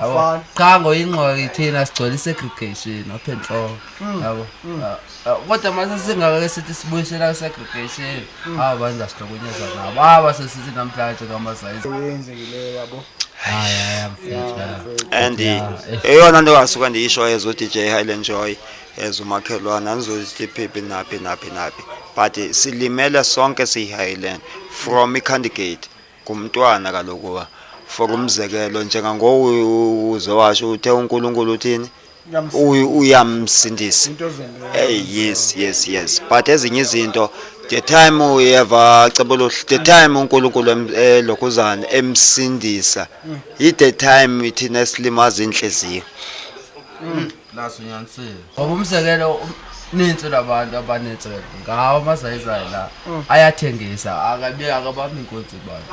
Awufani. qha ngoyingxoki thina sigcwele i-segregation apha entloko yabo Ah, ah, kodwa mase singake sithi sibuyisela i-segregation aba bantu asihlukunyezwa nabo aba sesithi namhlanje ngamazayizi Yenzekileyo yabo. and eyona nto ngasuke ndiyisho as udj highland joy as umakhelwane andizothi phiphi naphi naphi naphi but silimele sonke siyi-highland from icandigate ngumntwana kaloku wa for umzekelo njengangoku uze washo uthe unkulunkulu uthini Uy- uyamsindisa Into ezimbi. hey yes yes yes but ezinye izinto the time uyeva cebolo the time unkulunkulu em- elokuzana emsindisa yi the time thina silimaza intliziyo naso unyanisile ngoba umzekelo um- ninzi lwabantu abanetselo ngawo amazayizayi la ayathengisa akabi akabami inkunzi bantu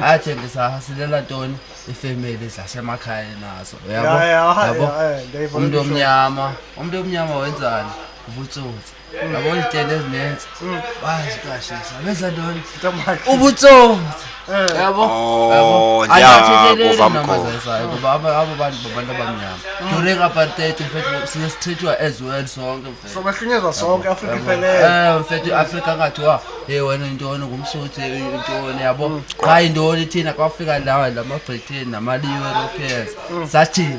ayathengisa asilela ntoni iifemeli zasemakhaya nazo Ya, ya, uyabo ya, ya, ndiyayibona umntu into omnyama umntu omnyama wenzani ubutsotsi yabo ndidende ezinenza baziqashisa benza ntoni ubutsonzi yabo Oh, ndiyakuva mkhulu. andithetherenabazasayo kuba abo abo bantu babantu abamnyama during apartheid mfethu siye sithethwa as well sonke mfethu sobahlunyezwa sonke afrika iphelele Eh, mfethu iafrika ngathi wa ye wena intoni ngumsuthu eh, intoni yabo qha intoni thina kwafika lawa la mabritain namali-europeans sathini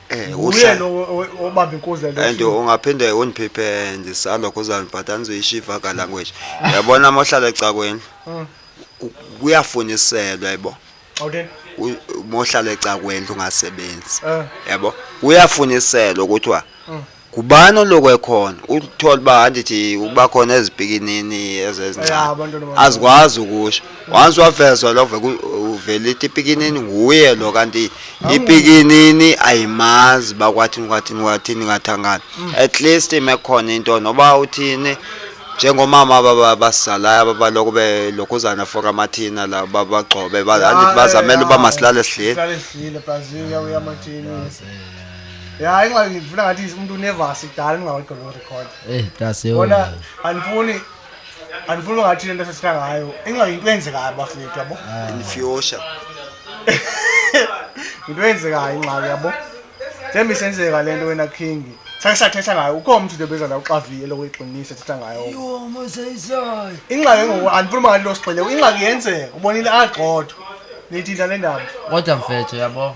Eh, uhle uyena owe- owe- obamba inkuzi yale and shumi. ungaphinde undiphiphe ndisandwa khuzani but andizoyishiva ka language yabona uma uhlala ecakweni Mm. ku- kuyafuniselwa yabo okay U- uma uhlala ecakweni ungasebenzi Eh. yabo kuyafuniselwa kuthiwa Mm. ngubani oloko ekhona uthole uba andithi uba khona ezipikinini ezezincane azikwazi ukusho once wavezwa lo uvele ithi ipikinini nguye lo kanti ipikinini ayimazi uba kwathini kwathini kwathini ngathangani mm. at least imekhona into noba uthini njengomama abasizalayo ababaloko belokhuzana for amathina la babagcobe bazamele uba masilale sidlile ya inga ngifuna ngathi umuntu unevasi kudala ndingawagqiba urekhorda eyi mntase bona andifuni andifuni ungathi le nto sesitha ngayo inga yinto eyenzekayo bafethu yabo inifyosha yinto eyenzekayo ingxaki yabo njengoba isenzeka le nto wena khingi sake sathetha ngayo ukho umntu into ebeza nayo uxavile lokuyiqinisa ethetha ngayo ingxaki ngoku andifuni uba ngathi losixeleku ingxaki yenzeka ubonile agxothwa niyithinta le ndaba kodwa mfethu yabo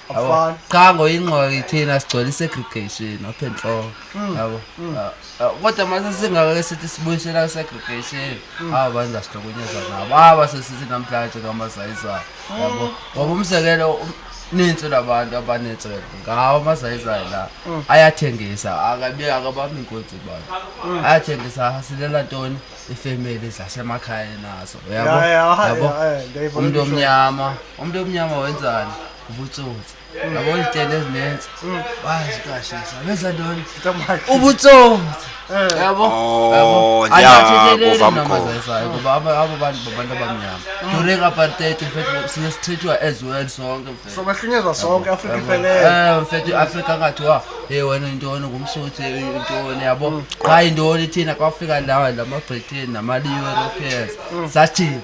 Yabo, qha ngoyingxoki thina sigcwele i-segregation apha entloko yabo Ah, ah, kodwa mase singake sithi sibuyisela i-segregation aba bantu ndasihlukunyezwa nabo aba sesithi namhlanje ngamazayizayo yabo ngoba umzekelo um- ninzi lwabantu abanintswelo ngawo amazayizayo la ayathengisa akabi akabami inkunzi bantu ayathengisa asilela ntoni iifemeli zasemakhaya nazo Ya, ya, ya, yabo ya, ndiyayibona umntu into oshoyo. omnyama umntu omnyama wenzani ubutsotsi yabo izitele ezininzi baziqashisa benza ntoni Itamati. ubutsotsi Eh. yabo Oh, Yabo? ndiyakuva, Andiyathetheleli mkhulu. namazayisayo kuba abo abo bantu babantu abamnyama during apartheid in fact siye sithethwa as well sonke so bahlunyezwa sonke afrika iphelele Eh, mfethu iAfrika ngathi wa hey wena intoni ngumsuthu eh, intoni yabo Mm. qha intoni thina kwafika lawa lamaBritain namali-Europeans Mm. sathini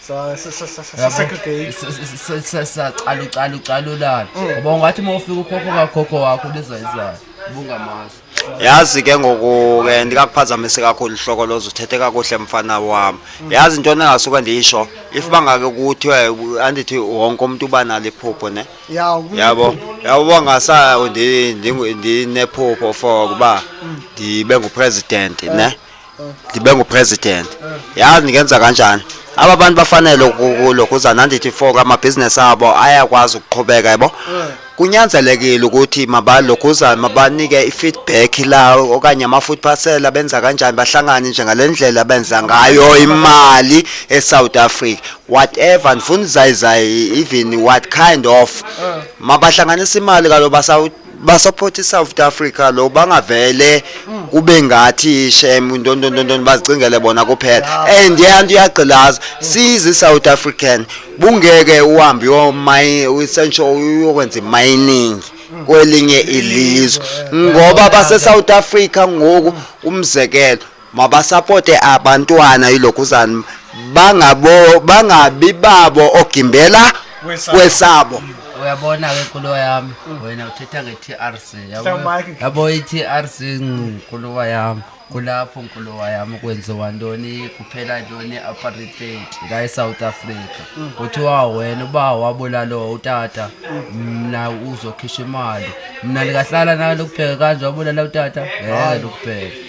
Sa- sa- sa- sa- sa- Yabo? segregate S- s- s- s- s- sacalucalucalulana Mm. ngoba ungathi uma ufika ukhokho kakhokho wakho lizayizana ubungamazi yazi ke ngoku ke ndikakuphazamise kakhulu ihloko lozo uthethe kakuhle mfana wam yazi into endingasuke ndiyisho if bangake kuthiwe andithi wonke umntu uba nalo iphupho ne yabo yabo ngasa ndinephupho for ukuba ndibe ngupresident ne ndibe ngupresident yazi ndingenza kanjani aba bantu bafanele kulo kuza nandithi for amabhizinesi abo ayakwazi ukuqhubeka yabo kunyanzelekile ukuthi mabalokhuzane mabanike i-feedback la okanye ama-food parcel abenza kanjani bahlangane njengale ndlela benza ngayo imali e-south africa whatever ndifuna izayizayi even what kind of mabahlanganisa imali kaloba south basupport iSouth Africa lo bangavele kube ngathi shem ndondondondon bazicingele bona kuphela and yanto iyagqilaza size iSouth African bungeke uhambe yomayi usentsho uyokwenza mining kwelinye ilizwe ngoba baseSouth Africa ngoku umzekelo mabasapote abantwana ilokuzan bangabo bangabi babo ogimbela kwesabo uyabona ke nkuluwa yami wena uthetha nge-trc yabo i-trc nkuluwa yami kulapho nkuluwa yami kwenziwa ntoni kuphela ntoni aparitheid la esouth africa mm. kuthiwa wena uba wabulalowa utata mna uzokhishwa imali mna likahlala nalo kupheka kanje wabulala utata ngeke lokupheka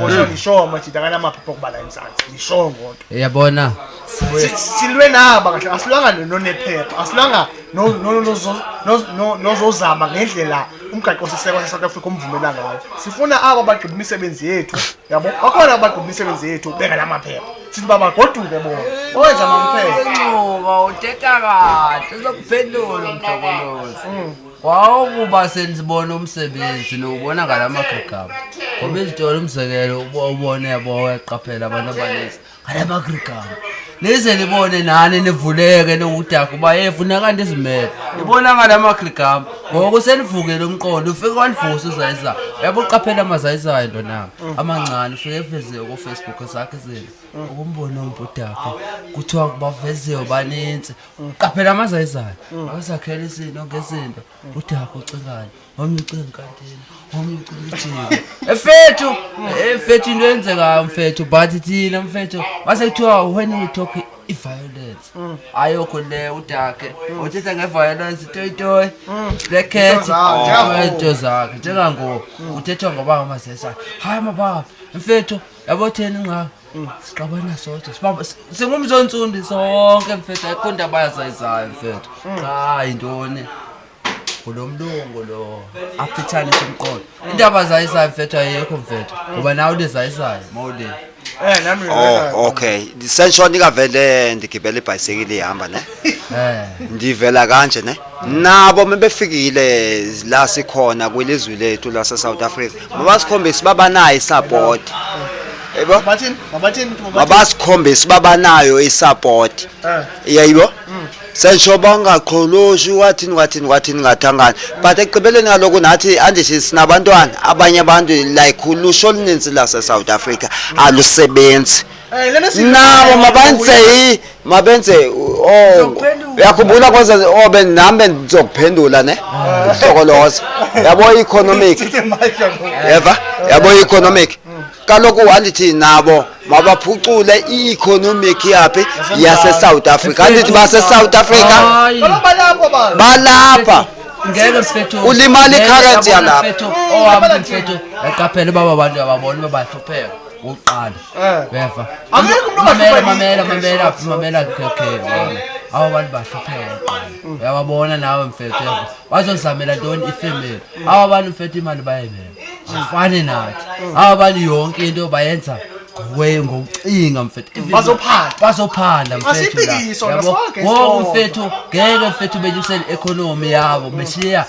Kodwa ndishoyo manje ndakana amaphupha okubala emzantsi ndishoyo ngoko uyabona Si- silwe naba kahle asilwanga no- nonephepha asilwanga no- no- nozo- no- no- nozozama ngendlela umgaqo siseko sesouth africa omvumela ngayo sifuna aba bagqiba imisebenzi yethu yabo bakhona abagqiba imisebenzi yethu bengenamaphepha sithi babagoduke bona owenza amaphepha Ncuba, uthetha kahle, uzokuphendula umdokolozi. kwawokuba sendibona umsebenzi nowubona ngala magrigama ngoba izitolo umzekelo ubone boweqaphela abantu abaninzi ngala magrigama nize nibone nani nivuleke ningudaka uba ye funeka ndizimele ndibona ngala magrigama ngoku senivukele umqondo ufike wandivusa uzayiza yabo uqaphela amazayizayo nto nam amancane ufike eveziwe koofacebook zakhe zenu ukumbono mbudakhe kuthiwa baveziwe baninzi qaphela amazayizayo awazakhela izinto ngezinto ude akho ucingane omnye ucinga ikantini omnye ucinga ijiko efethu efethu into eyenzekayo mfethu but thina mfethu mase kuthiwa when you talk i-violence ayokho le udakhe uthetha nge-violence itoyitoyi lekhethe into zakhe njengangoku uthethwa ngoba ngamazayizayo hayi mababa mfethu yabotheni ingxaka Mm. sixabana sodwa sibamba singumzi ontsundi sonke mfethu ayikho ndaba yazayizayo mfethu mm. qha yintoni ngulo mlungu lo aphithanise umqolo indaba zayizayo mfethu ayekho mfethu mm. ngoba nawe unezayizayo mawule Eh nami Oh okay. Sensho nikavele ndigibele ibhayisekile ihamba ne. Eh. Ndivela kanje ne. Nabo mebefikile la sikhona kwilizwe lethu lase South Africa. mabasikhombise uba banayo isapoti yebo Bathini? Mabathini? Bathini? mabasikhombise uba banayo isapoti Eh. yayibo Mm. sensho bangaqholoshi wathini wathini wathini ngathangani but ekugqibeleni kaloku nathi andithi sinabantwana abanye abantu like ulusha oluninzi lasesouth africa alusebenzi Eh, nabo mabenze yi mabenze oh uyakhumbula kwenza oh ben nami bendizokuphendula ne hlokoloza eh. yabo economic yeva yabo economic mm. kaloku wandithi nabo mabaphucule i-economic yaphi yasesouth africa andithi basesouth africa balapha ngeke mfethu ulimala i-currency yalapha owami mfethu yaqaphela uba abantu ababona uba bahlupheka okokuqala Eh. uyeva Akekho umuntu Mamela, ongahlupha mamela yini. mamela phi mamela phi okay wabona abo bantu bahlupheka kuqala uyababona nawe mfethu uyeva bazozamela ntoni ifemeli aba bantu mfethu imali bayayibeka afane nathi aba bantu yonke into bayenza ngowe ngokucinga mfethu Even- Bazophanda. bazophanda mfethu la. Asiphikiswa, Yabo? nasonke Wonke isonke. mfethu ngeke mfethu benyusele i-economy yabo beshiya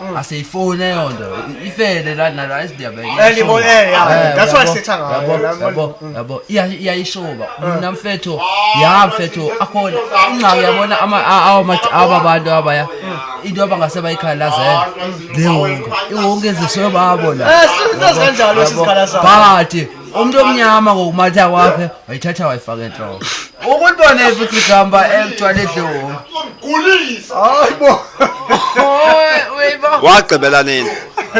Mm. aseyifoni eyo nto ifele la nalo ayisindiyabeyabo iyayishoba mna mfetho ya mfetho akhona ingca uyabona aba bantu abaya mm. into abangase bayikhalazela lewonke iwonke zisoyo babona eh, but umntu omnyama ngokumatha kwakhe wayithatha wayifaka entloko umuntu wanephi kwigamba ekuthiwale dlewonke wagqibela nini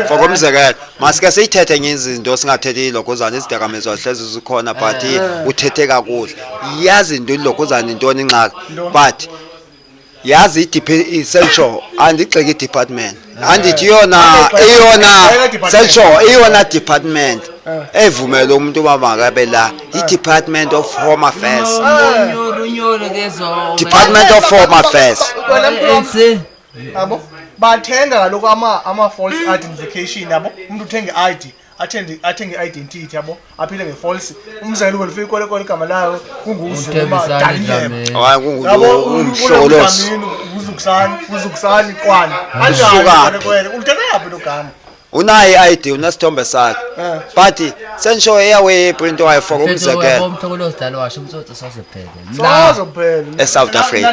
for komzekelo masike siyithethe ngenye izinto singathethi iilogozana izidakamizwa zihlezi zikhona but uthethe kakuhle yazi into iilogozana intoni ingxaki but yazi i-essential andigxeki i-department andithi yona eyona essential eyona department eh. evumela umuntu uba makabe la i-department of home affairs department of home affairs bathenga kaloku ama-false identification yabo umntu uthenge i-id athenge athenge identity yabo aphile ngefalse umzali wena ufike kwale kwale igama layo kunguzumadaniyemumhloloamini uzukusani uzukusani kwana anjanikwele ulithethe yaphi lo gama unaye i-id unesithombe sakhe eh. but sensho eyaweyeprinto wayo for umzekelo umthokolozi dali washo umtsotsi soze phele esouth africa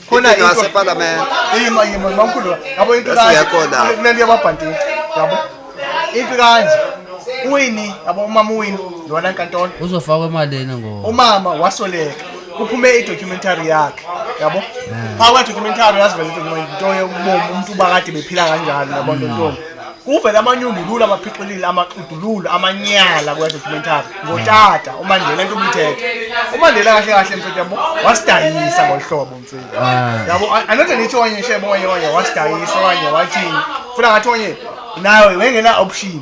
khona Iphini wasepalamente. ima ima mamkhulu yabo into That's kanje uyakhona. kule- kule nto yababhantini yabo into kanje uwini yabo umama uwini lona enkantolo uzofakwa emalini ngoku umama wasoleka kuphume idocumentary yakhe yabo phaa kwedocumentary yazivela into nto yobomi umntu uba kade bephila kanjani yabo ntontombi kuvela amanyundululu amaphixilile amaxudululu amanyala kwedocumentary ngotata umandela into umthetho umandela kahle kahle mfethu yabo wasidayisa ngolu hlobo mfethu ah. yabo anothi ndithi wanye shebo wanye wanye wasidayisa wanye wathini funa ngathi wanye nawe wengena option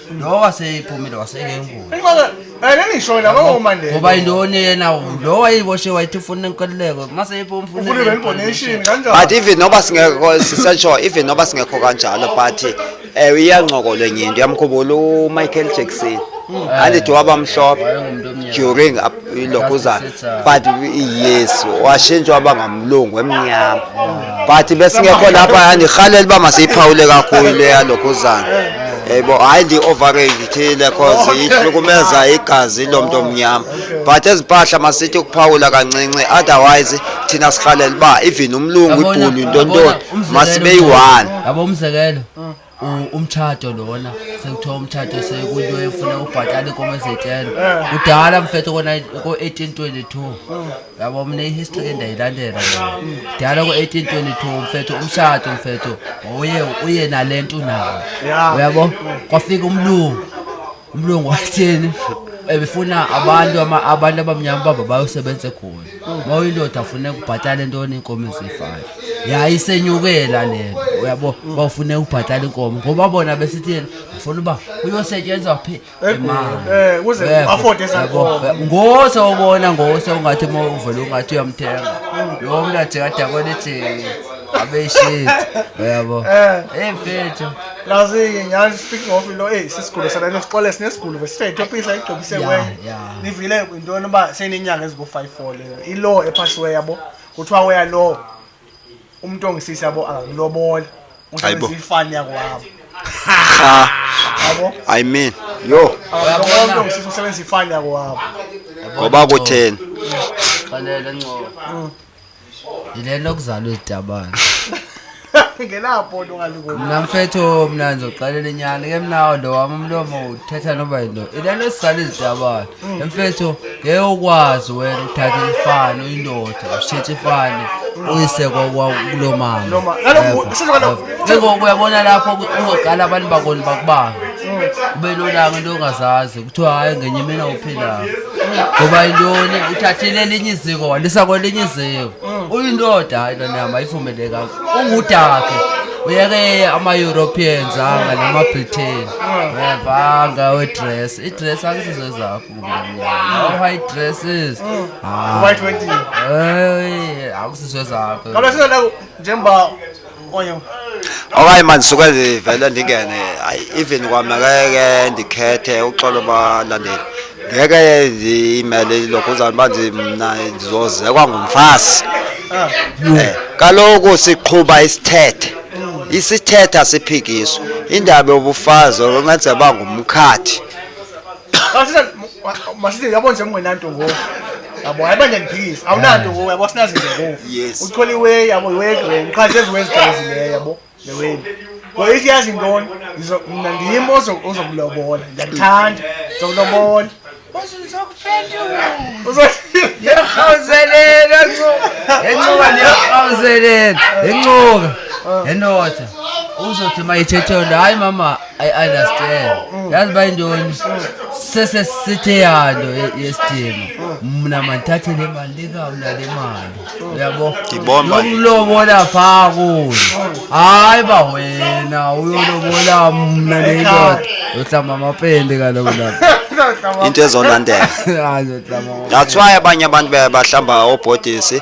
Lo waseyiphumile wasekenkulu. Inqola ayinishoyo laba ngomandela. Ngoba indoni yena lo wayiboshe wayithi ufuna inkoleko. Mase yiphuma ufuna. Ufuna ibenibonation kanjani? But even noba singekho sisetsho even noba singekho kanjalo but eh iyancokola enye into yamkhumbula uMichael Jackson. Andithi wabamhlophe during ilokhuzana but yesu washintshwa waba ngamlungu emnyama but besingekho lapha yandirhalela uba masiyiphawule kakhulu le yalokhuzana yebo hayi ndi-overreactile cause ihlukumeza igazi lo mntu omnyama but ezi mpahla masithi ukuphawula kancinci otherwise thina sirhalela uba even umlungu ibhulu into ntoni masibe yi-one yabo umzekelo umtshato lona sekuthiwa umtshato sekunto efuna ubhatala inkomo ezetyelo eh. kudala mfetho ko-eighteen twenty two hmm. yabo mna ihistory endayilandela kudala ko-eighteen twenty two mfetho umtshato mfetho uye uye nale nto unawo uyabo kwafika umlungu umlungu wathini ebefuna abantu abantu abamnyama baba bayosebenza ekhona uma uyindoda afune kubhatala entoni inkomo eziyi-five yayisenyukela lena uyabo bawufune ubhatala inkomo ngoba bona besithini bafuna uba uyosetyenzwa phi ngose ubona ngose ungathi uma uvele ungathi uyamthenga lo mntu ajekadakwenejeni abe shit uyabo eyi mfethu Plus, nyhani speaking of into eyi sisigulo sona nesixole sinesigulo besisayigcobhisa igcobhiseweyo nivile into yoba seyinenyanga ezibo-five four leyo ilaw ephasiweyo yabo kuthiwa weya law umntu ongisisi yabo angakulobola usebenzisa ifani yakwabo yabo i mean yho angakulobola umntu ongisisi usebenzisa ifani yakwabo ngoba kutheni Xelele, Ncobo. yile nto kuzalwa izitabane ngenaphondo ungalikho mna mfetho mna ndizoxelela inyani ke mnawo ndo wam umlomo uthetha noba yinto ile nto sizala izitabane emfetho ngeke ukwazi wena uthathe ifani uyindoda ushitshe ifani uyise kwa- kwa- kuloo mama Noma- kaloku Yebo, kusho kaloku- yebo. ke ngoku uyabona lapho ku- uzoqala abantu bakoni bakubanga ube nolanga into ongazazi kuthiwa ngenyimena uphilayo ngoba yintoni uthathile elinye iziko wandisa kwelinye iziko mm. uyindoda hayi ntwana yam ayivumelekanga ungudakhe uyeke ama-europeans anga nama-britain uyavanga wedress idress akusizo ezakho kumnamyam dresses akusizo ezakho njengoba Oyo. okanye mandisuke ndivele ndingene hayi even kwamekeke ndikhethe uxolo balandeli ngeke ndiyimele ilokhuzana uba ndi- mna ndizozekwa ngumfazi Ah. Eh, kaloku siqhuba isithethe isithethe asiphikiswa indaba yobufazi ongenzeka uba ngumkhathi Masithe masithe yabona nje mngenanto ngoku. yabo hayi bandla ndiphikise awunanto kuwe yabo sinazinto ngoku Yes. uthole iweyi yabo iweyi egreni qha zeziweyi ezigazileyo yabo leweyi ngoba ithi yazi ntoni Ndizo- mna ndim ozo- ozokulobola ndiyakuthanda ndizokulobola Yehawuzelela ncuka. Encuka niyahawuzelela. Encuka. Endoda. Uzothi mayithethe yona hayi mama I understand. That's why ndoni sese sitheyando yesithembu. Mna mandithathe le mali ndikawula le mali. Uyabo? Ngibomba. Lokulobola phaa kuyo. Hayi ba wena uyolobola mna nendoda. Uhlamba amapende kaloku lapha. Into ezonandela. Hayi uhlamba. That's why abanye abantu bahlamba obhodisi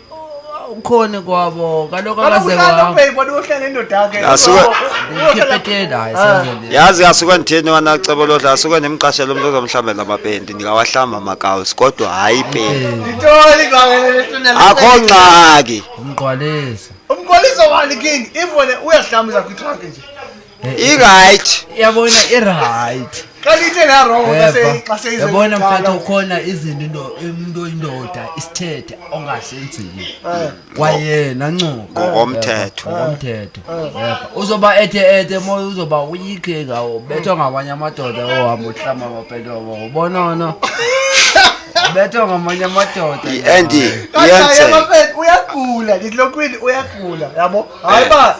ukhona kwabo kaloku akaze yazi asuke ndithini wana cebo lodla asuke ndimqashele umntu ozomhlambela amapendi ndingawahlamba amakaos kodwa hayi pendi akho ngxaki umqwalisa umqwalisa wani king ivone uyahlamba iza kwitruck nje irayithi yabona irayithi xa lithe narongo yabona mfethu ukhona izinto umuntu oyindoda isithethe ongasenziyo eh. kwayena ncuko ngokomthetho ngokomthetho eh. uzoba ethe ethe moya uzoba uyikhe ngawo bethwa ngabanye amadoda ohamba uhlama amapetwa ubonona bethwa ngamanye amadoda i-andy uyagula nditlokwini uyagula yabo hayi ba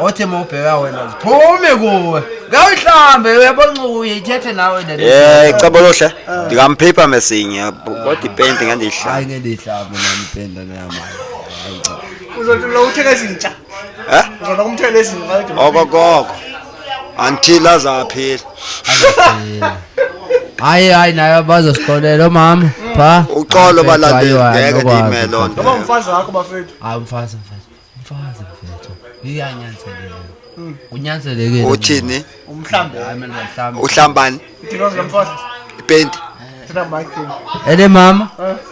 othi mawubheka wena ziphume kuwe ngawuhlambe uyaboncuye ithethe nawe le Eh cebo lohle. Ndikamphipha mesinye kodwa ipaint ngendihla. hayi ngendihlabe nam ipenda nama uzothi lo utheka ezintsha Eh? uzona kumthela ezintsha Oko koko. Until azaphila. hayi hayi nayo bazosixolela omama pha Uxolo balandeli ngeke ndime loo nto. ngoba umfazi wakho bafethu hayi mfazi mfazi mfazi mfethu iyanyanzeleka kunyanzelekile uthini umhlambi hayi mina mhlawumbi uhlambani Uthinozi lomfazi. ipenti Thina mic thing. ene mama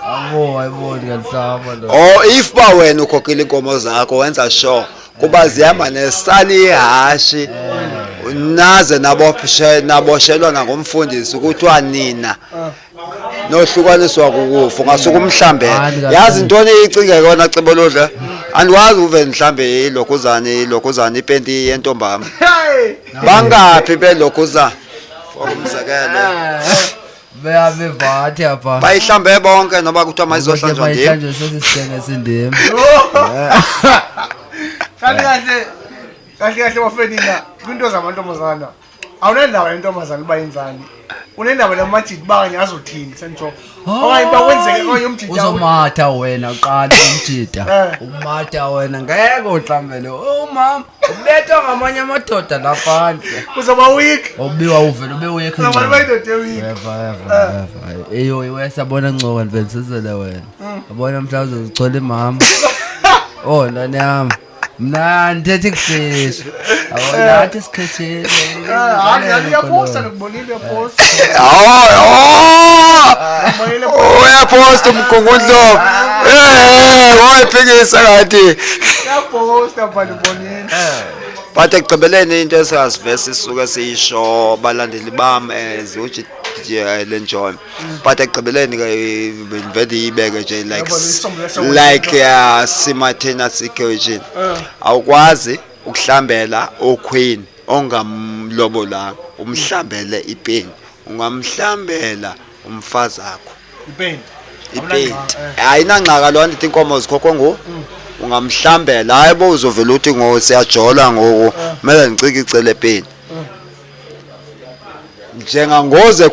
abo ayiboni ngalisaba lo or if uba wena ukhokela iinkomo zakho wenza sure kuba zihamba nesali ihashe naze naboshe- naboshelwa nangomfundisi kuthiwa nina nohlukaniswa kukufa ungasuka umhlambela yazi ntoni icinga kona cibolodla andiwazi uve ndihlambe ilokhuzane ilokhuzane ipenti yentombam bangaphi belokhuzane for umzekelo behambe vathi apha bayihlambe bonke noba kuthiwa mayizohlanjwa ndim bayihlanjwe sesisithenge sindim kanti kahle kahle kahle bafenina kwinto zamantombazana awunendaba yentombazana uba yenzani unendaba namajidi uba kanye azothini senditsho okanye uba kwenzeke okanye umjidi uzomatha wena uqala umjida Eh. umatha wena ngeke uhlambele umama ubethwa ngamanye amadoda la phandle uzawuba week obiwa uvele ube uyekho uzawuba uba indoda ewiki Eh. eyo iwesa abona ncoka ndivensizele wena abona mhlawumbe uzozichola imama oh nani yam Na ndithi kusizo. Awunathi sikhethile. Hayi, hayi uyaposta nokubonile uyaposta. Hayi, hayi. Uyaposta umgungundlovu. Eh, wayiphikisa kanti. Uyaposta mfana ubonile. But ekugqibeleni into esingazivesi isuke siyisho balandeli bam as uthi le njongo. but ekugqibeleni ke ndivede iyibeke nje like like ya simathena security ah. awukwazi ukuhlambela okhwini ongamlobolanga umhlambele ipeni ungamhlambela umfazi akho ipeni ipenti eh. ayinangxaka loo nto ithi inkomo zikhokho ngoku mm. ungamhlambela hayi bo uzovela uthi ngoku siyajola ngoku eh. kumele ndicike icele epeni njengangoze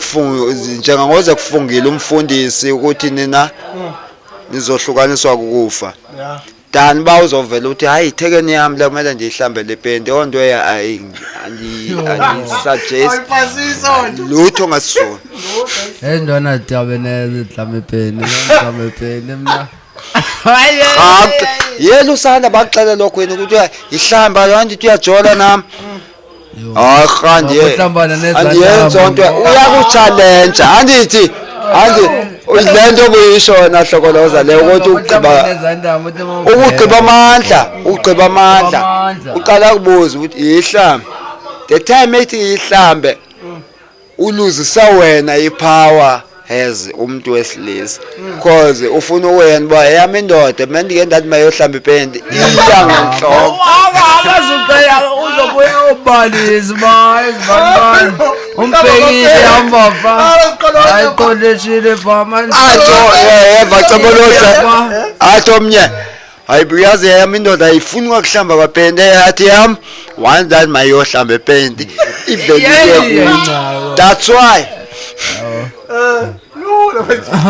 njengangoze kufungile umfundisi ukuthi nina hmm. nizohlukaniswa kukufa than uba uzovela ukuthi hayi ithekeni yam le kumele ndiyihlambele ipenti oo nto andiyisuggest lutho ngasizona heyi ntwana dyabe nezihlamba ipeni nezihlamba ipeni mna yena usanda bakuxelela lokho wena ukuthi yihlambe andithi uyajola nam Yho. Arha ndiye Makuhlambana nezandla andiyenzo nto mama. uyakutshalenja andithi andi le nto obuyisho yona hlokoloza le ukuthi ugqiba ukugqiba amandla ukugqiba amandla Amandla. uqala kubuza ukuthi yihlambe the time ethi yihlambe uluzisa wena ipower as umntu wesilisa because ufuna uwena uba yam indoda mna ndike ndathi mayohlamba ipenti iya ngentloko ubalisa uba ezibanibani umpekile hamba fa ayiqondeshile fa atsho eva cebolosa atsho omnye hayi uyazi yam indoda ifunwa kuhlamba kwapende yathi yam one that mayohlamba epenti ivelile that's why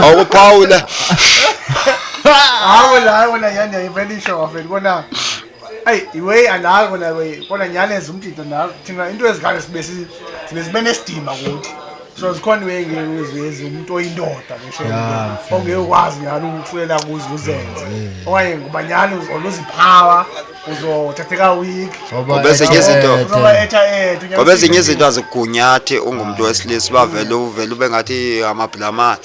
awuphawula hawo la wona yani ayivele isho wafeli bona ayi iwe analo kona we kona nyane zumtito nalo thina into ezikhala sibe sibe sibe nesidima kuthi so zikhona iwengezi umntu oyindoda ongekwazi nyhani umfulela kuze uzenze okanye ngoba nyhani uzona uziphawa uzothatheka week ngoba ezinye izinto ngoba ezinye izinto azigunyathi ungumntu wesilisa bavele uvele ube ngathi amabhulamana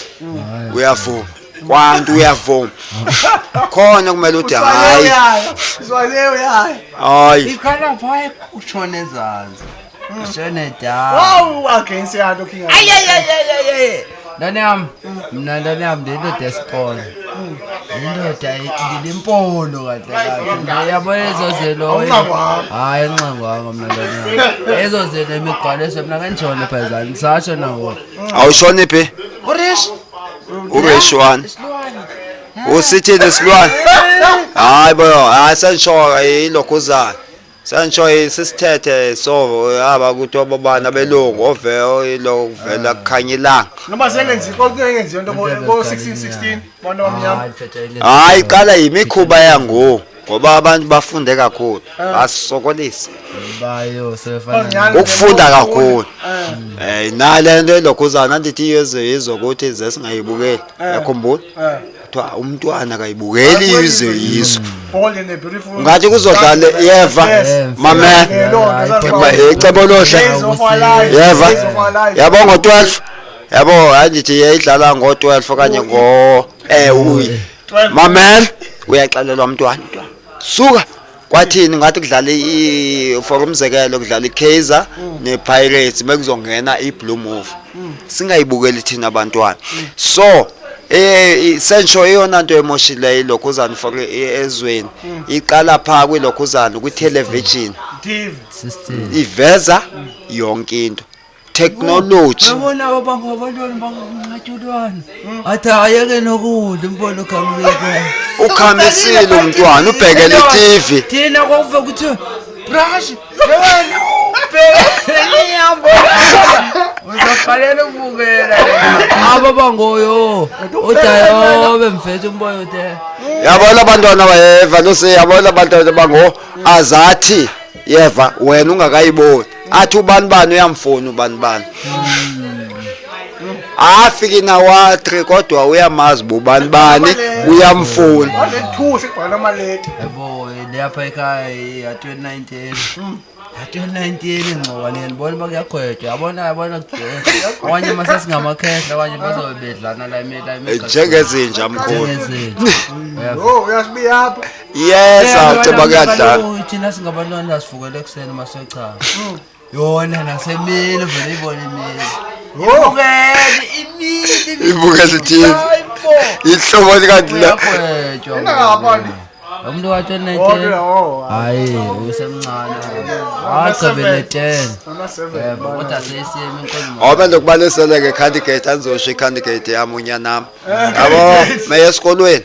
uyavuma kwantu uyavuma khona kumele uthi hayi hayi ikhala phaya ushone ezanzi Seneta. Wow, I can say I'm looking at. Ay, ay, ay, ay, ay, ay. Ndani yam, mna ndani yam ndindoda esipono. Indoda ndilimpono kahle kahle. Ndiyabona ezo zinto. Awunxango wam. Hayi unxango wam mna ndani yam. Ezo zinto imigqwaliso mna kanjona phezani ndisasho nangoku. awushoni phi Urish. ureshwani usithini isilwane hayi bo hayi sendishoka yilokhuzana santsho sisithethe so aba kuthi obobana belungu ovele lo kuvela kukhanya ilanga noma sengenzi konke engenziyo nto ngo-1616 abantu abamnyama Hayi, mfethu, ayile- hayi iqala yimikhuba yangoku ngoba abantu bafunde kakhulu basokolisa bayo sebefana Bazinyani nje, Ukufunda bafuna kakhulu. Eh. um nale nto elokhuzana ndithi yezo yezo kuthi zesingayibukeli yakhumbula Eh. kuthiwa umntwana kayibukeli ize yiso ngathi kuzodlala yeva mame icebo lohle yeva yabo ngo-twelve yabo hayi ndithi yayidlala ngo-twelve okanye ngo um eh, uyi mamela uyaxelelwa mntwana suka kwathini ngathi kudlala i- for umzekelo kudlala ikaizer nepirates bekuzongena iblue move singayibukeli thina bantwana so eh, sensho eyona nto emoshileyo ilokhuzana for e- ezweni iqala phaa kwilokhuzana kwithelevijini Steve. iveza yonke into technology Yabona baba ngabantwana bangancatshulwana. Athi ayeke nokudla umbona ugamuleke. ukhamisile umntwana ubhekele iTV Thina kwakuve kuthiwa brush yona ubhekele inyambo. Uzofanele ukubukela. Aba bangoyo. Udayobe mfethu umboyo de. yabona abantwana bayeva nose yabona abantwana bango azathi yeva wena ungakayiboni athi ubani bani uyamfuna ubani bani afike nawa three kodwa uyamazi bubani bani uyamfuna wazethusi gcwala amaleti yabo ndiyapha ekhaya ya-2019 ya-2019 ngcoba le ndibona uba kuyakhwetshwa yabona yabona abanye masesingamakhehle abanye bazobe bedlana la imela njengezinja mkhulu njengezinto yho uyasibiyapha Yes, awuthi bakuyadlala. Thina singabantwana sivukele ekuseni masechaza. Hmm. Yona nasemini vele ibona imini. Ibukele imini. Ibukele TV. Ihlobo likadla. Ingabani. Umuntu wathi onethe. Hayi, usemncane. Agcibele 10. Yebo, kodwa seyisimi inkonzo. Awube ndokubalesele ke candidate anzosho icandidate yami unyana nami. Eh. Yabo, meye esikolweni.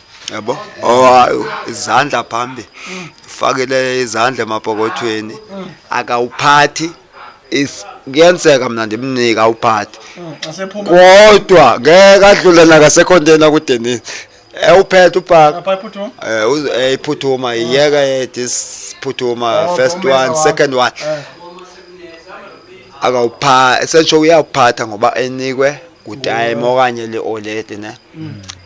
yabo owayo izandla phambi fakele izandla emapokothweni akawuphathi is- kuyenzeka mna ndimnike awuphathi asephuma kodwa ngeke adlule nakasekhonteni akudenisi ewuphethe upaka apha iphuthu Eh, uz- eh, iphuthuma iyeke eh, this phuthuma Oh, first Gomez one awakho. second one Eh. akawupha setsho uyawuphatha ngoba enikwe kutime okanye liolete ne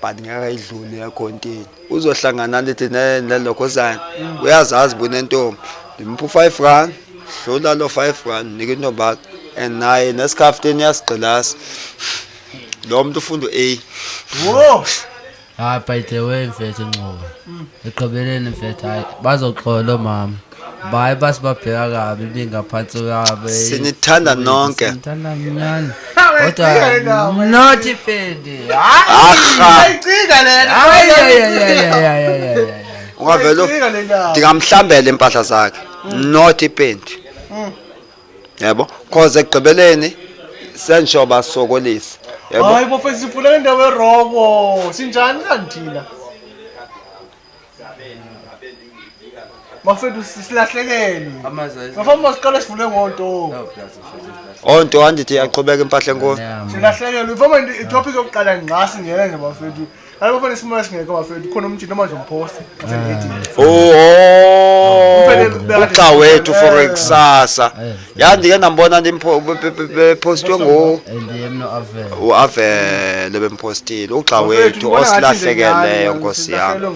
but ngeke idlule ekontini uzohlangana lithi nelokhosana uyazazi bunentombi ndimpha u-five rand dlula loo five rand nika intombi akho and naye nesikhafteni uyasigqilasa lo mntu ufunda u-a hayi by the way mfethu ncuba mm. ekugqibeleni mfethu hayi bazoxola oomama baye basibabheka kabi ibingaphantsi kwabo sinithanda nonke sinithanda nyani kodwa not ipendi ungavele ndingamhlambela iimpahla zakhe not ipendi yebo cause ekugqibeleni senjoba sokolisa yebo hayi bofethu sifuna indawo erongo sinjani kanjina bafethu silahlekelwe bafana masiqale sivule ngonto onto andithi yaqhubeka impahla enkulu silahlekelwe ifama itopic yokuqala ngqasi ngena nje bafethu Hayi bafana isimona singekho bafethu khona umjini noma nje umphoste. Oh, oh, Uphelele- ugxa wethu for Eh. kusasa Eh. yandike ndambona ndimpho- be- be- be- bephostwe ngu and yemno avele uavele bemphostile ugxa wethu osilahlekeleyo nkosi yam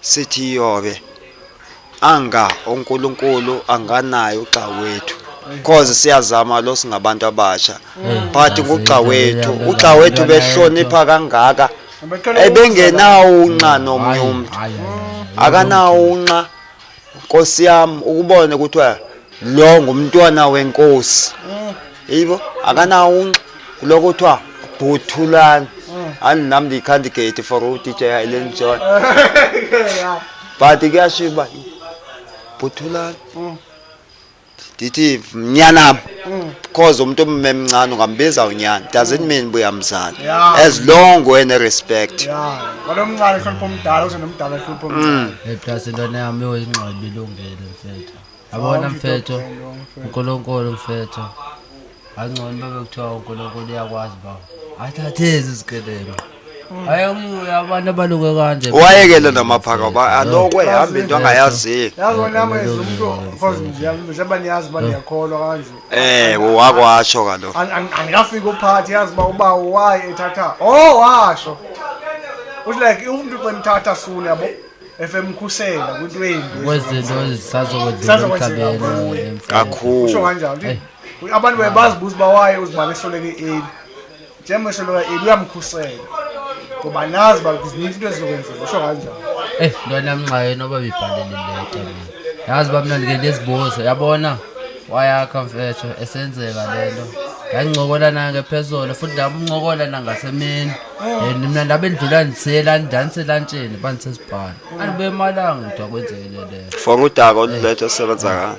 sithi yobe anga uNkulunkulu anganayo ugxa wethu cause siyazama lo singabantu abasha but ngugxa wethu ugxa wethu behlonipha kangaka ebengenawo unxa nomnye umntu akanawo unxa nkosi yam ukubone kuthiwa lo ngumntwana wenkosi yibo akanawunxa kulo kuthiwa bhuthulani and nam ndiyikhandigate for utj island john but kuyashiba bhuthulani ndithi mnyanam mm. because umntu omemncane ungambiza unyana doesn't mm. mean buya mzali as long wena respect walomncane hlonipha omdala uze nomdala hlonipha omncane eplasi mm. intwana yam yoyingxobi ilungile mfetho abona mfetho unkulunkulu mfetho angcono babekuthiwa unkulunkulu uyakwazi uba athathe ezi zikelenga Hayi umntu abantu abaluke kanje. wayekele namaphaka uba alokwe hamba into angayaziyo yazo nam as umntu because ndiya- njengoba ndiyazi uba ndiyakholwa kanje ewe wakwatsho kaloku An- an- andikafika uphathi yazi uba ubawo waye ethatha oh washo uthi like umntu xa emthatha suni yabo efemkhusela kwinto embi Kwezinto ezisazokwenzeka Sazokwenzeka emhlabeni. kuye. emhlabeni. usho kakhulu kanjalo Hey. abantu baye bazibuza uba waye uzibala esoleke eli njengoba esho loya ibuyamkhusela ngoba nazi uba zininzi into ezizokwenzeka usho kanjani Eh, ntwana mnxaye noba bibhalele leta mina. Yazi bamnandi ke ndizibuze, yabona? Wayakha mfethu esenzeka lento. Ngancokola naye ngephezolo futhi ndamncokola nangasemini. Then mina ndabe ndidlula ndisela ndanse lantsheni bandisesibhana. Andibe emalanga kuthiwa kwenzekile lento. Fonga udaka olubethe osebenza ngalo.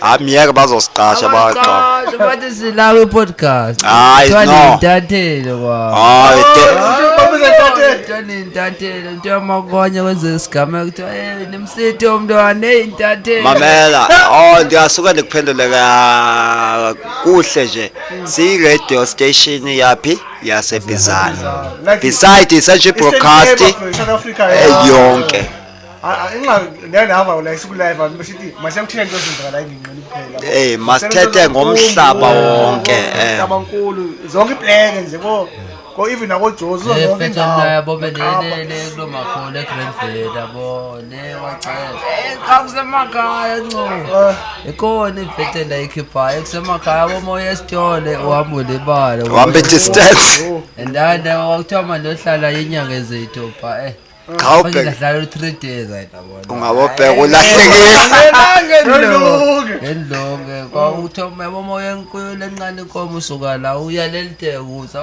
hayi myeke bazosiqasha baxa bathi silawe ipodcast Hayi, Kuthiwa no. nintathelo kwa hayi te- kuthiwa nintathelo into yamakonya kwenze isigameko kuthiwa "Eh, nimsithi umntwana eyi ntathelo mamela oh ndiyasuke ndikuphendule ka- kuhle nje siyi-radio station yaphi yasebizana beside isentshe broadcast eh, yonke masithethe ngomhlaba wonke abankulu zonke ipleke nje ko ko even nakojozi zonke indawo bobe lele kulo makhona egrandville yabo ne wacela eh cha kusemakhaya ncobo ikona ivete la ikhiphayo kusemakhaya bomoya esitole uhamba ulibala uhamba distance and then wakuthiwa manje ohlala inyanga ezithu pha eh khawubheke ungabobheka ulahlekile kwawuthi umema umoya enkulu lencane inkomo usuka la uya lelitekuza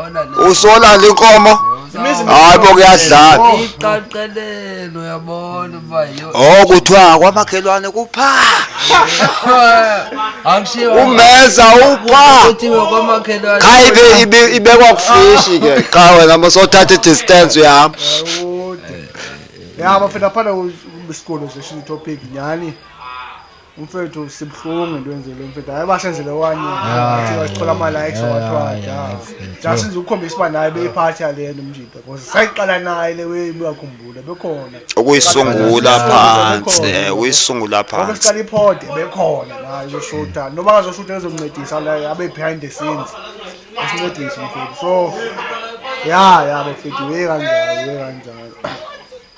usola linkomo hayi bo kuyadlala iqaqelelo uyabona uba Oh kuthiwa kwamakhelwane kupha. Akusiyo. Umeza upha. Kuthiwe kwamakhelwane. Cha ibe ibe ibekwa kufishi ke. Cha wena masothatha i-distance uyahamba. Ya bafethu aphana isikolo zeshinyi topic nyhani umfethu sibuhlungu into enzile umfethu hayi basenzele wanye wathola ama-likes wathiwada just nje ukukhombisa uba naye beyiphathi yale nto mjita because sayiqala naye le weyi uyakhumbula bekhona ukuyisungula phantsi uyisungula phantsi siqala iphode bekhona naye uzoshutha noba ngazoshutha ezomncedisa laye abe behind the scenes esincedise umfethu so ya ya bafethu weyi kanjalo weyi kanjalo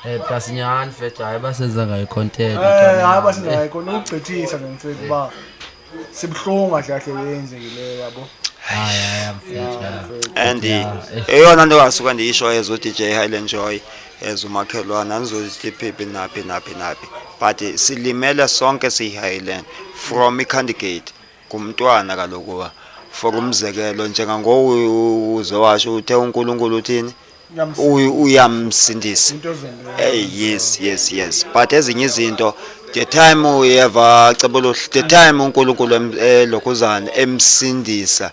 Eh basinyani fethu hayi basenza ngayo content. Eh hayi basenza ngayo content ukugcithisa lo mfethu ba. Sibuhlungu kahle kahle yenzekileyo yabo. and eyona nto kasuke ndiyisho as udj highland joy as umakhelwane andizothi phiphi naphi naphi naphi but silimele sonke siyi-highland from icandigate ngumntwana kaloku uba for umzekelo njengangoku uze washo uthe unkulunkulu uthini Uy- uyamsindisa Into ezimbi. hey yes yes yes but ezinye izinto the time uyeva cebuluhle the time unkulunkulu em- elokuzana emsindisa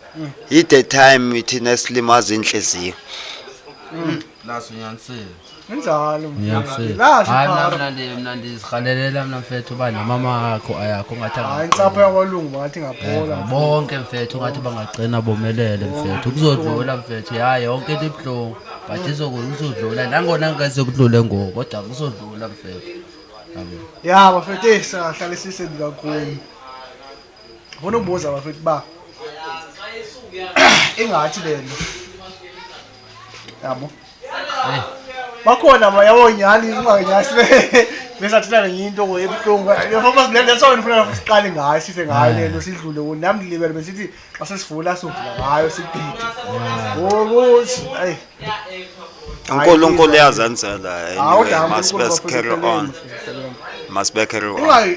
yi-the time thina silimaza iintliziyo Naso unyanisile. Injalo. Ngiyakusela. Lashe Hayi mna phara. mna ndi- mna ndizirhalelela mna mfethu uba nomama wakho ayakho ungathi Hayi angagcina. intsapho yakwalungu bathi ingaphola. bonke mfethu ungathi bangagcina bomelele mfethu kuzodlula mfethu ya yonke into ibuhlungu but izoku- kuzodlula nangona ngingeze kudlule ngoku kodwa kuzodlula mfethu Yabo. Ya bafethu eh sahlalesise ndikakhulu. Ngifuna ukubuza bafethu ba. Ingathi lento. yabo eh. bakhona yabo nyhani inganyasi bese athina nenye into ebuhlungu yafoma le song ndifuna siqale ngayo sise ngayo le nto sidlule kuyo nam ndilibele besithi xa sesivula sivula ngayo sidide ngoku ayi unkulu unkulu yazenzela anyway must be carry on must be carry on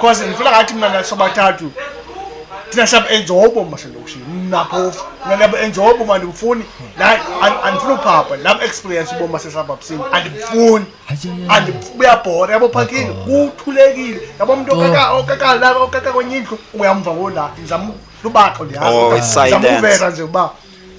Cause ndifuna ngathi mna nasobathathu thina sab enjobo masendokushini mna phofu mna labo enjobo mandibufuni la andifuna uphapha lam experience ubomi basesabhabsini andibufuni buyabhora yabo phakini kuthulekile yabo umntu okakala okaka kwenye indlu uyamva wona ndizam lubaxo ndiyazamuveza nje uba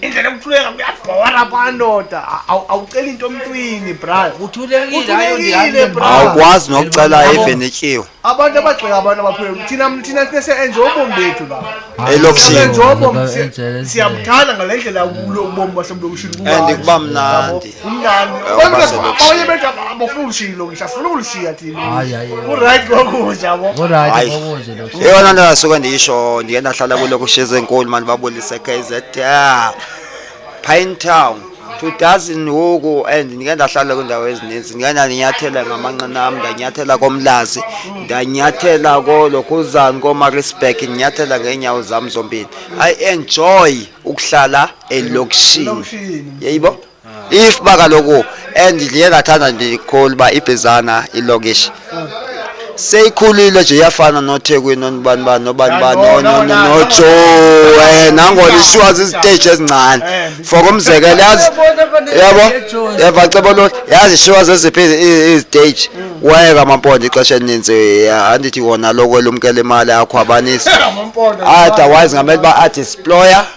indlela ekuhluleka kuyabhora phaa ndoda Awu- awuceli into omntwini bra uthulekile hayi Uthulekile, ndihambe bro. mama. awukwazi nokucela Elibomvu. even ityiwe abantu abagxeka abantu abaphulele thina thina thina sienje ubomi bethu la elokishini Enjoy ubomi, Enjoy, siya- enjoy. siyamthanda ngale ndlela ubulo ubomi basemlokishini kubantu. and kuba mnandi ingani abanye benja bafuna ulushiyilogisha sifuna ukulushiya thinaurayithi kokunje abooyeyona nto ndasuke ndiyisho ndike ndahlala kulokushe ezenkulu mani babulise k z ah, pine town two dozen woku and ndike ndahlala kwiindawo ezininzi ndike ndandinyathela ngamanqina am ndanyathela komlazi ndanyathela kolokhuzani komarisburg ndinyathela ngeenyawo zam zombini i enjoy ukuhlala elokishini Elokishini. yayibo if uba kaloku and ndiye ndathanda ndikhole uba ibhezana ilokishi seyikhulile nje iyafana nothekwini onibani bani nobani bani no- no- no- nojo um nangona ishiwa ziziteji ezincane for umzekelo yazi yabo yeva cebolo yazi ishiwa zeziphi izi- i- iziteji wayeka amampondo ixesha elininzi eh, andithi wona lokwelumkela imali akhwabanisa otherwise ngamele uba athi sploya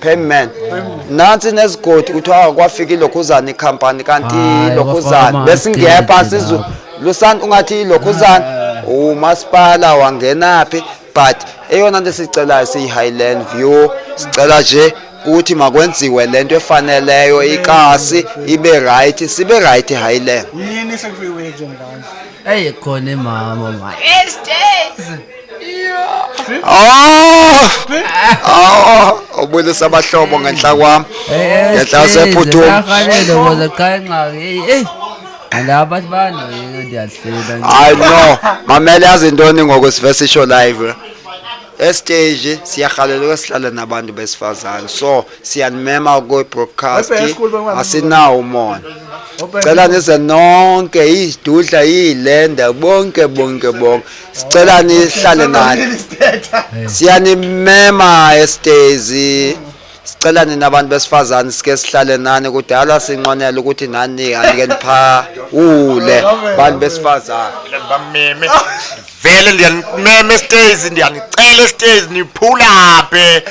payman nantsi nezigodi kuthiwa kwafika ilokhuzana ikhampani kanti Hayi, ilokhuzana bafana besingepa amadidi sizu lapha. lusan ungathi ilokhuzana umasipala wangenaphi but eyona nto esiyicelayo siyi-highland view sicela nje ukuthi makwenziwe le nto efaneleyo ikasi ibe rayithi sibe rayithi highland yini sekufike kwenje mvanje Ey khona imama manje. These days. obulisa abahlobo ngentla kwam ngentla sephutuma hayi no mamele yazi ntoni ngoku sive sisho live estage siyarhalela uke sihlale nabantu besifazane so siyanimema kwi-broadcast asinawo umona cela nize nonke izidudla iilenda bonke bonke bonke sicela nihlale nathi siyanimema esitezi sicela nina abantu besifazane sike sihlale nani kudala sinqonela ukuthi nani anike niphawule bantu besifazane bameme vele ndiyanimema esitezi ndiyanicela esitezi niphulaphe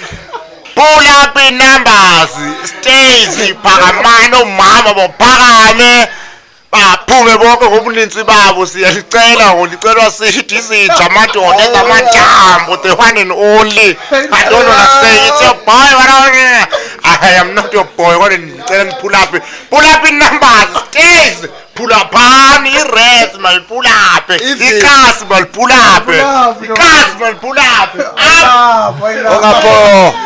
phulaphe iinambazi sitezi phakamani oomama bophakame baphume bonke ngobuninzi babo siyalicela ngo ndicelwa sithi izinja amadoda ezamathambo the one and only i don't wanna say it's your boy whatever i am not your boy kodwa ndicela ndiphulaphi phulaphi numbers stays phulaphani i-res maliphulaphe ikasi maliphulaphe ikasi maliphulaphe ungapho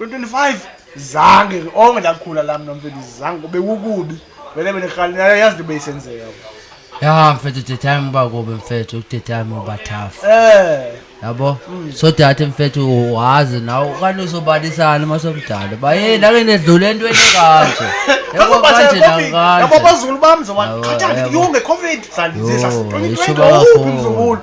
2025 zange onke ndakhula lam nomfethu zange kube kukubi vele bendiqali nayo yazi into beyisenzeka ya mfethu the time uba kubi mfethu the time uba tough eh yabo mm. so dade mfethu wazi nawe okanye usobalisana masomdala uba ye ndake ndedlule entweni kanje yabobazulu bam zobachathani yonge covid sandizisa 2020 umzukulu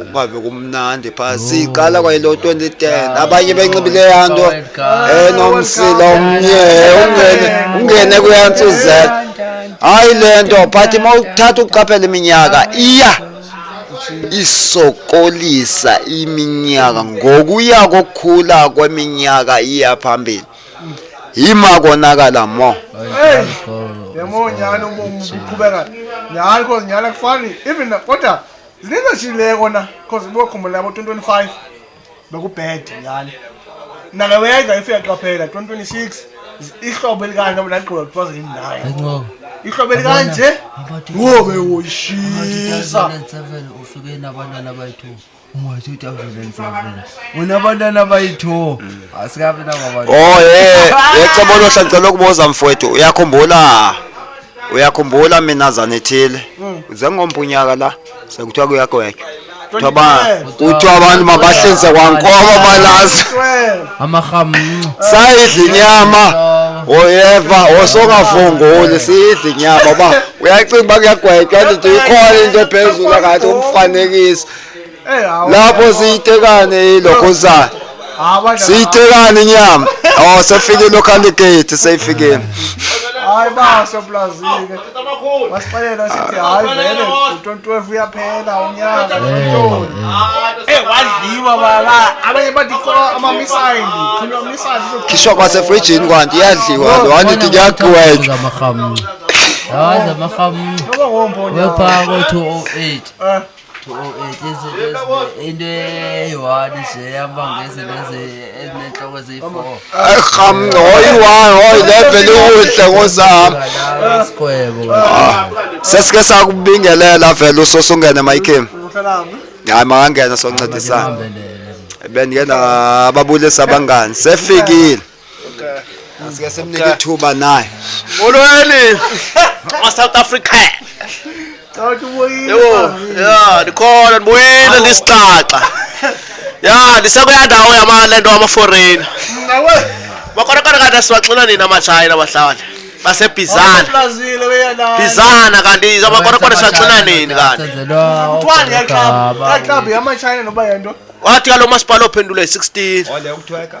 ungabe kumnandi phaa siyiqala kwayilo 2010 abanye benxibile yaa nto enomsila omnye ungene ungene kuyantsuzela hayi le nto but uma uthatha ukuqaphela iminyaka iya isokolisa iminyaka ngokuya kokukhula kweminyaka iya phambili yima konakala mo yemo nyhani ubomi buqhubeka nyhani cause nyhani akufani even kodwa zininzi ashiyileko kona cause bokhumbula abo 2025 bekubhede nyhani nake weza ifika qaphela 2026 ihlobo elikanje oba lagqiba because yindayo Encoba. ihlobo elikanje Abati- wobe woyishisa Abati- 2007 ufike nabantwana bayi-two Mwathi uthi awuzolenza wena abantwana bayi-two asikabi nababantu Oh eh yecebo lohla ngicela ukubuza mfowethu uyakhumbula uyakhumbula mina zanethile zengompunyaka la sekuthiwa kuyagwetywa kuthiwa ba- kuthiwa abantu mabahlinze kwankomo balazi amarhamnco sayidla inyama oyeva osongavunguli siyidla inyama uba uyacinga uba kuyagwetywa ndithi ikhona into ephezulu ngathi umfanekiso lapho siyitekane ilokhosana siyitekane inyama o sefike i-local gate seyifikile hayi baso plazike wasixelela sithi hayi vele u-2012 uyaphela unyaka eh wadliwa baba abanye bathi amamisayili khona amisayili khishwa kwasefrijini kwanti iyadliwa lo andithi kuyagwetywa Yazi amarhamu wephako 208 208 into eyi-one nje yamba ngezinto ezinenhloko eziyi-four Ay, Ram, hoy, hoy, hoy, level uhle ngosam. isikwebo Sesike sakubingelela vele usoso ungene my Kim. Hayi makangena soncedisana. Bendike nababulisa abangani. Sefikile. Okay. Asike simnike ithuba naye. Molweni. Ama South Africa. Cha ubuye. Yebo. Yeah, ndikhona ndibuyile ndisixaxa. Yeah, ndisakuya ndawo yama lento ama foreign. Ngawe. Bakona kana kanti siwaxina nini ama China bahlawale. Basebhizana. Plazile weyana. Bizana kanti abakona kana siwaxina nini kanti. Mntwana ya club, ya club yama China noba yento. Wathi kalo masipala ophendule 16. Ole ukutweka.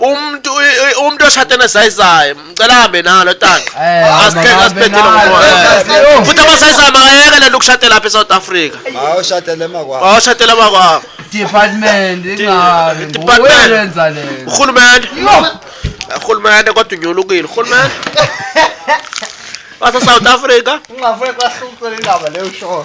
umntu umntu otshate nesayisayi mcela hambe nalo tana eh, asibhethele ngomoya futhi amasayisayi makayeke le nto ukushatela apha esouth africa awushatele makwabo awushatele makwabo department ingaiwenza le urhulumente urhulumente kodwa unyolukile urhulumente wasesouth africa ungafuni kwahluqela indaba leyo shona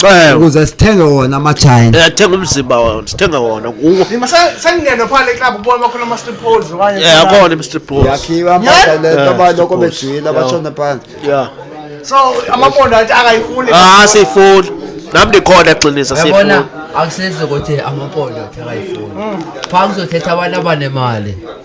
Cela ukuze sithenge wona amachina. Uyathenga umzimba wona, sithenga wona kuwo. Nima sangingena phaa le club ubona bakhona ama strip holes okanye. Yeah, akhona ama strip holes. Yakhiwa amabala lento abantu okobejwile abashona phandle. Yeah. So amabondo athi akayifuni. Ah, siyifuni. Nam ndikhona xinisa siyifuni. Yabona akusenzi ukuthi amabondo athi akayifuni. Phaa kuzothetha abantu abanemali.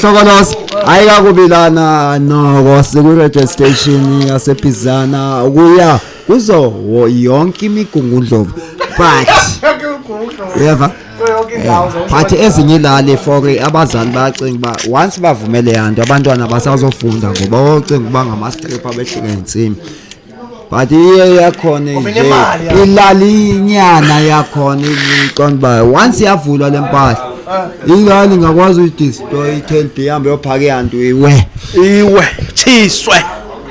hlokonos ayikakubilana noko sikwi-radio station yasebhizana kuya kuzo yonke imigungundlovu but uyeva but ezinye ilali for abazali bayacinga uba once bavumele yanto abantwana basazofunda ngoba ocinga uba ngamastrip abehlukene ntsimi but iye yakhona nje Umilimali, ya. ilali inyana yakhona iqonda uba once yavulwa le mpahla ilali ingakwazi uyidistroy itenti ihambe yophaka ihantu iwe iwe tshiswe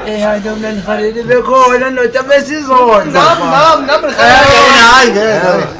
Eh, hayi, ntombi, ndandifanele ibe khona ndoda besizondla. Nam, nam, nam, Eh, hayi, ngeke.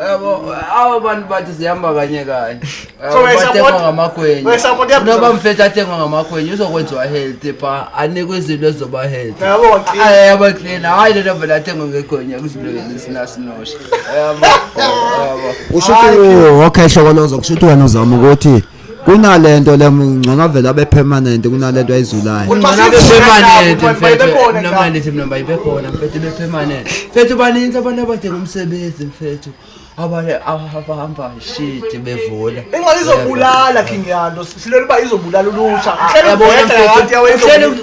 yabo abo bantu bathi zihamba kanye kanye So we bathengwa support- ngamakhwenye we support yabo- unoba mfethu athengwa ngamakhwenye uzokwenziwa healthy pha anikwe izinto ezizoba healthy Yabo, clean. Ay, yabo clean hayi lento vele athengwe ngekhwenye kuzilokela isinasinasha yabo yabo usho ukuthi okay hlokonozo kusho ukuthi wena uzama ukuthi kunale nto le ngcono avele abe permanent kunale nto ayizulayo Ngcono abe permanent mfethu noma nithi mina bayibe khona mfethu ibe permanent mfethu baninzi abantu abadinga umsebenzi mfethu abanye abahamba shit bevula ingxola izobulala king yanto silele uba izobulala ulutsha Yabona, mfethu. Uhlele-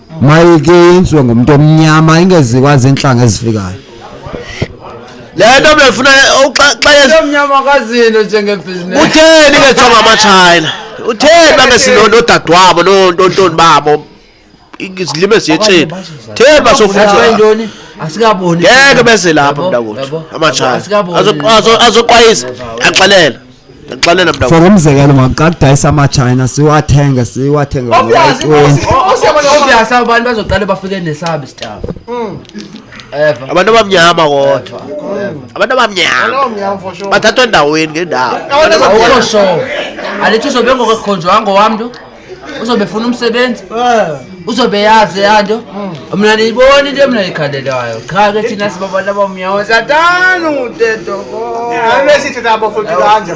mayike yenziwe ngumntu omnyama ingeziwa ziintlanga ezifikayo le nto befuna xaxayeomnyamakazini njengebhizinesi utheni ke jonga amatshayina utheni babesinodadwabo nontoni babo izilime ziyetsheni theni basofuntoni asikaboni ngeke beze lapha mntakwethu amatshayina azoqwayisa axelela Xelela mntakwethu. For umzekelo makaqadayisa amachina siwathenge siwathenge Obvious, ngoyi-twenty. obvious, obvious abantu bazoqale bafike nesabi staff. Mm. Ever. Abantu abamnyama kodwa. Abantu abamnyama. Lowo mnyama for sure. Bathathwa endaweni ngendawo. Awukho sure. Alithi uzobe ngokukhonjwanga owamntu. uzobefuna umsebenzi uzobe yazi yanto mna ndiyiboni into emnayikhadelayo qha ke thina sibabantu abamnyawo satani uteto alo esithi nabo futhi kanje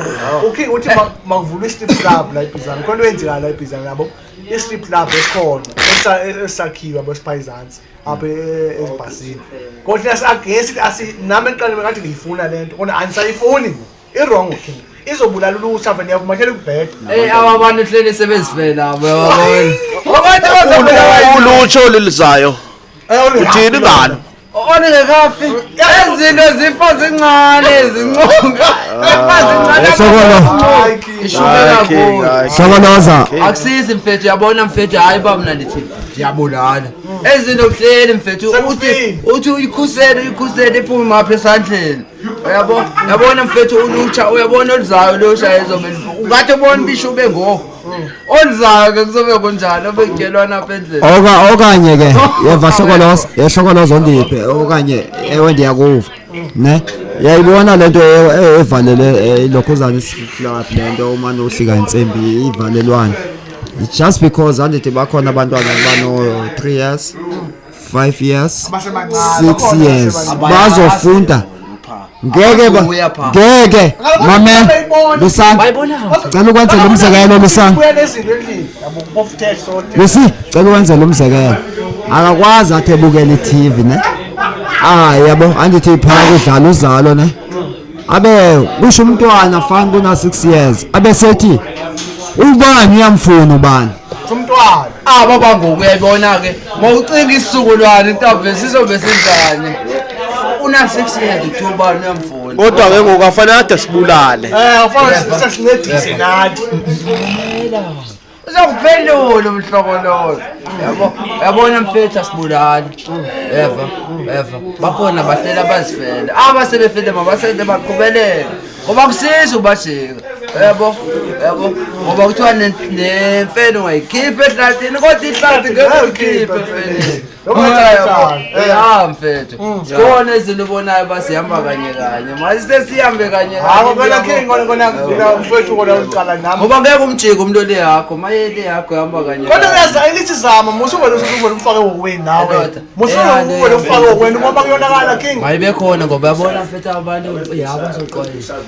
ukhi uthi makuvulwa i-strip club la ibhizana khona into eyenzeka la ibhizana yabo i-strip club esikhona esakhiwe abo esipha izantsi apha e-, ezibhasini kodwa nami eqaleni ngathi ndiyifuna le nto kodwa andisayifuni ngoku irongo izobulala ulusa vele yavumathela ukubheda Hey awabantu hlele sebezivela abo yababona. Abantu abazobulawa ulutsha olulizayo uthini ngalo Onengekafi izinto zifa zincane zinconga. Zifa zincane. Sokolo. Ishukela kakhulu. Sokoloza. Akusizi mfethu yabona mfethu hayi ba mna ndithi ndiyabulala. Ezinto kuhleli mfethu uthi uthi uyikhusele uyikhusele iphume mapha esandleni. Uyabona, uyabona mfethu ulutsha, uyabona oluzayo lusha ezobe ungathi ubona ubisho ube ngo. Oluzayo ke kuzobe kunjalo obetyelwa napha endlini. Oka okanye ke yeva shokoloza, yeshokoloza ondiphe okanye ewe ndiyakuva. Ne? Yayibona lento e- e- evalele e, ilokhuzana isihlap lento umane uhlika intsimbi ivalelwana. It's just because andithi bakhona abantwana abano 3 years five years six years bazofunda ngeke ba ngeke mame lusan cela ukwenzela umzekelo lusan lusi cela ukwenzela umzekelo akakwazi athi ebukele i-tv ne ah yabo andithi phaa kudlala uzalo ne abe kusho umntwana fana kuna 6 years abe sethi ubani uyamfuna ubani umntwana aba ah, bangokuyayibona ke mawucinga isizukulwane intombi sizobe sinjani una 6 years uthi ubani uyamfuna kodwa ke ngoku afanele ade sibulale eh afanele sisincedise nathi uzawuphendula umhlobo lowo yabo yabona mfethu asibulali eva eva bakhona bahlela bazifele aba sebefele mabasele baqhubelele ngoba kusiza ubajika yabo yabo ngoba kuthiwa nemfene ungayikhiphi ehlathini kodwa ihlathi ngeke uyikhiphe emfeneni ya mfethu mm. sikhona izinto obonayo uba sihamba kanye kanye masise sihambe kanye ngoba ngeke umjike umntu le yakho maye le yakho ihamba kanyekodwa uyaza elithi zama musuvele usuvele umfake wokweni nawe musuvele ufake wokweni ngoba kuyonakala king mayibe khona ngoba yabona mfethu abantu yabazoqwayisa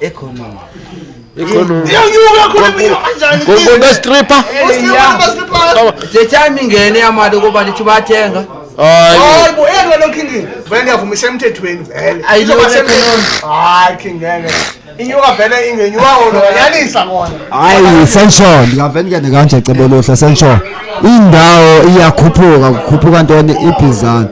Economy. Economy. Iyo yuka khona mina kanjani? Ngoba stripper. Sawa. The time ingene yamali ukuba nithi bathenga. Hayi. Hayi bo yena lo king. Vele ngiyavumisa emthethweni vele. Hayi lo economy. Hayi king ngeke. Inyuka vele ingenyuka wona yanisa kona. Hayi senshon ngavele ngene kanje cebolohle senshon. Indawo iyakhuphuka kukhuphuka ntoni ibhizana.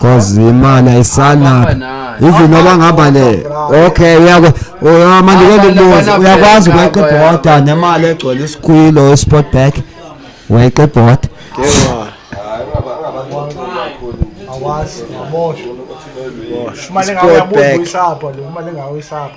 Cause imali ayisanapha. Even noba ngaba le. Okay, uyakwa oh, manje kwendibuze uyakwazi ukweqa ibhoda nemali egcwele isikhwilo esport bag. Weqa ibhoda. Awazi, aboshwe. Imali engawe yabuyisapha lo, imali engawe isapha.